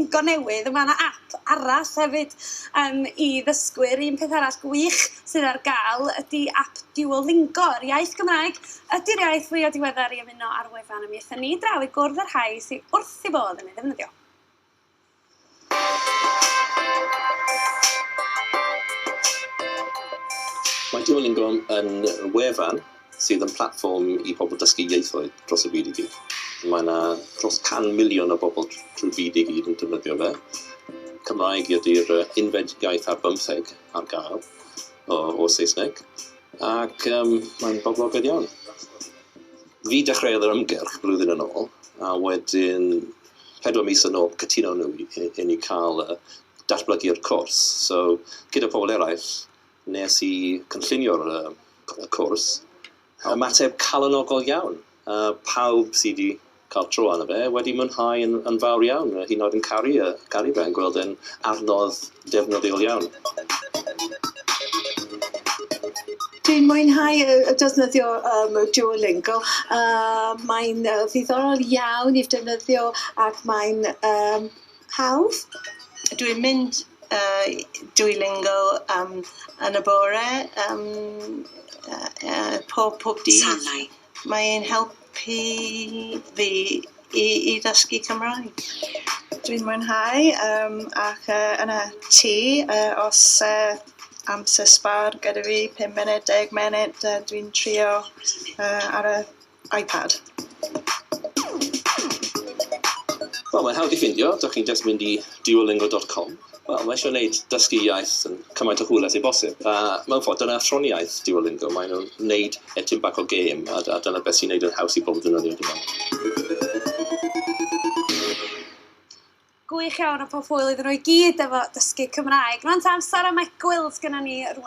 go newydd. Mae yna app arall hefyd um, i ddysgwyr. Un peth arall gwych sydd ar gael ydy app Duolingo, yr iaith Gymraeg. Ydy'r iaith fwyaf diweddar i ymuno ar wefan y mi ethon ni draw i gwrdd â'r rhai sydd wrth i bodd yn ei ddefnyddio. Mae Duolingo yn wefan sydd yn platfform i bobl dysgu ieithoedd dros y byd i gyd. Mae yna dros 100 miliwn o bobl trwy'r byd i gyd yn defnyddio fe. Cymraeg ydy'r unfed iaith ar bymtheg ar gael o, o Saesneg, ac um, mae'n boblogaidd iawn. Fi dechreuodd yr ymgyrch flwyddyn yn ôl, a wedyn pedwar mis yn ôl cytuno nhw i ni cael y datblygu'r cwrs. So, gyda pobl eraill, nes i cynllunio'r cwrs, ymateb calonogol iawn. Pawb sydd wedi cael tro arno fe wedi mwynhau yn fawr iawn, hyd yn oed yn caru fe, yn gweld e'n adnodd Defnyddiol iawn. Dwi'n mwynhau defnyddio Duolingo, mae'n ddiddorol iawn i'w defnyddio ac mae'n hawdd. Dwi'n mynd i Duolingo yn y bore, pob dydd. Mae e'n helpu fi i i ddysgu Cymraeg. Dwi'n mwynhau yym ac yy yn y tŷ yy os yy amser sbâr gyda fi pum munud deg munud yy dwi'n trio yy ar y iPad. Wel mae'n hawdd i ffindio, 'dach chi'n jyst mynd i duolingo dot com. Wel, mae eisiau gwneud dysgu iaith yn cymaint o hwyl ag sy'n bosib. A mewn ffordd, dyna athroniaeth Duolingo, maen nhw'n wneud e tipyn bach o gêm, a a dyna beth sy'n wneud e'n haws i bob ddefnyddio, dwi'n meddwl. Gwych iawn a pob hwyl iddyn nhw i gyd efo dysgu Cymraeg. Rŵan ta amser am egwyl sgynnon ni rŵan.